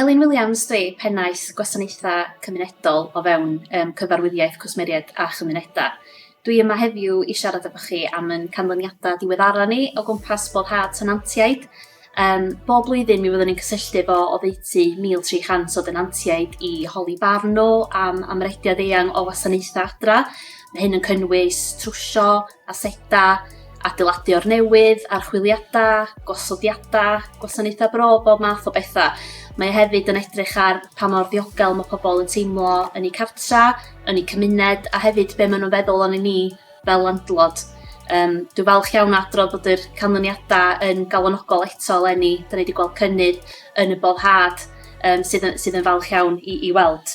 Elin Williams dwi pennaeth gwasanaethau cymunedol o fewn um, cyfarwyddiaeth cwsmeriaid a chymunedau. Dwi yma heddiw i siarad efo chi am yn canlyniadau diweddara ni o gwmpas boddhad tenantiaid. Um, bob blwyddyn mi fyddwn ni'n cysylltu fo o ddeutu 1,300 o denantiaid i holi barn nhw am amrediad eang o wasanaethau adra. Mae hyn yn cynnwys trwsio, asedau, adeiladu o'r newydd, archwiliadau, gosodiadau, gwasanaethau bro, bob math o bethau. Mae e hefyd yn edrych ar pa mor ddiogel mae pobl yn teimlo yn eu cartra, yn eu cymuned, a hefyd be maen nhw'n feddwl o'n i ni fel landlord. Um, dwi'n falch iawn adrodd bod yr canlyniadau yn galonogol eto eleni. Da ni wedi gweld cynnydd yn y boddhad um, sydd, yn, sydd yn falch iawn i, i weld.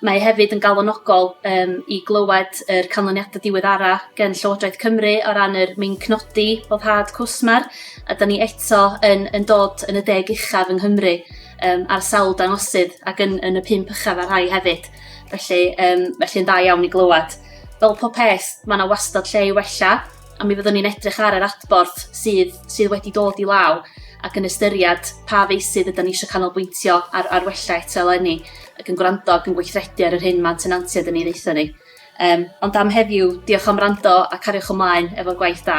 Mae e hefyd yn galonogol yym i glywed yr canlyniadau diweddara gen Llywodraeth Cymru o ran yr meincnodi boddhad cwsmer a 'da ni eto yn yn dod yn y deg uchaf yng Nghymru yym ar sawl dangosydd ac yn yn y pump uchaf ar rhai hefyd. Felly yym felly yn dda iawn i glywed. Fel pob peth ma' 'na wastad lle i wella a mi fyddwn ni'n edrych ar yr adborth sydd sydd wedi dod i law ac yn ystyried pa feysydd ydy ni eisiau canolbwyntio ar, ar wella eto eleni ac yn gwrando ac yn gweithredu ar yr hyn mae'n tenantiaid yn ei ddeitha ni. Um, ond am heddiw, diolch am rando a cariwch ymlaen efo'r gwaith da.